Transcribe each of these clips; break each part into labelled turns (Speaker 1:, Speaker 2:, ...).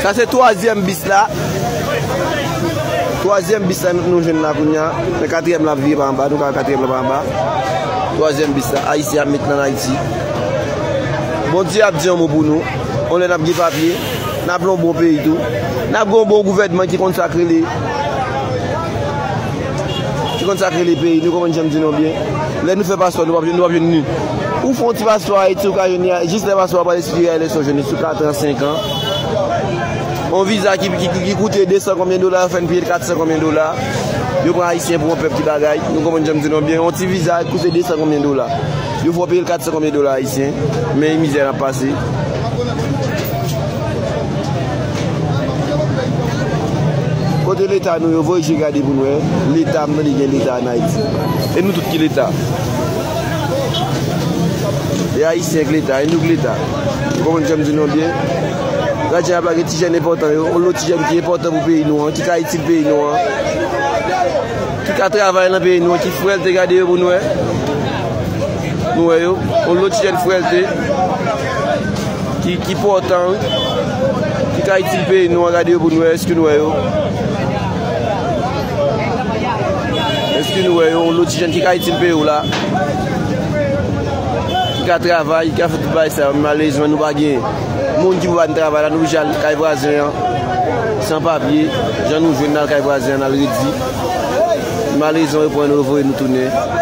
Speaker 1: Sa se twazyèm bis la. Twazyèm bis la nou jwenn la kounye a. Men katriyèm la ap vire pa anba. Nou ka wè katriyèm la pa anba. Twazyèm bis la. Ayisyen ap met nan Ayiti. Bondye ap di yon mo pou nou. On lè n ap gen papye. N ap lon bon peyi tou. N ap gen yon bon gouvènman ki konn sa k rele. Se konn sa k rele peyi nou konprann janm di nou an byen lè nou fè paswa nou pap jwenn nou pap jwenn ni ou fon ti paswa ayiti ou ka jwenn ni jis lè paswa pral espire a eleksyon jwenn ni sou 4 ans 5 ans on viza ki koute 200 konbyen dola yo fèn peyel 400 konbyen dola yo pran ayisyen pou on pèp ki bagay nou konprann janm di nou an byen on ti viza ki koute 200 konbyen dola yo fè w peyel 400 konbyen dola ayisyen men mizè nap pase. Kote leta nou yo voye je gade pou nou wè leta m tande gen leta an ayiti e nou tout ki leta e ayisyen k leta e nou k leta ou konprann sa m di nou an byen lajan ap lage ti jèn enpòtan yo ou lòt ti jèn ki enpòtan pou peyi nou an ki ka itil peyi nou an ki ka travay nan peyi nou an ki frèlte gade yo pou nou wè nou wè yo ou lòt ti jèn frèlte ki pòtan wi, ki ka itil peyi nou an gade yo pou nou wè èske nou wè yo, èske nou wè yo yon loti jèn ki ka itil peyi ou la, ki ka travay, ki ka fè tout bagay sa yo, malèzman nou pa gen moun ki pou ba nou travay la, nou oblije al kay vwazen an, san papye, jan nou jwenn nan kay vwazen an nan redi, malèzman yo pran nou yo voye nou tounen.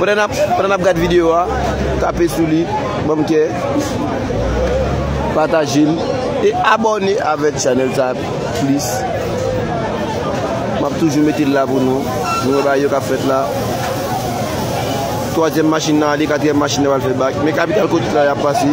Speaker 1: Pandan nap gad video a tape sou li banm kè patajel e abòne avèk chanèl sa plis map toujou metel la pou nou nou wè bagay yo kap fèt la twazyèm machin nan ale katriyèm machin nan pral fè bak men kapital kote sa yap pase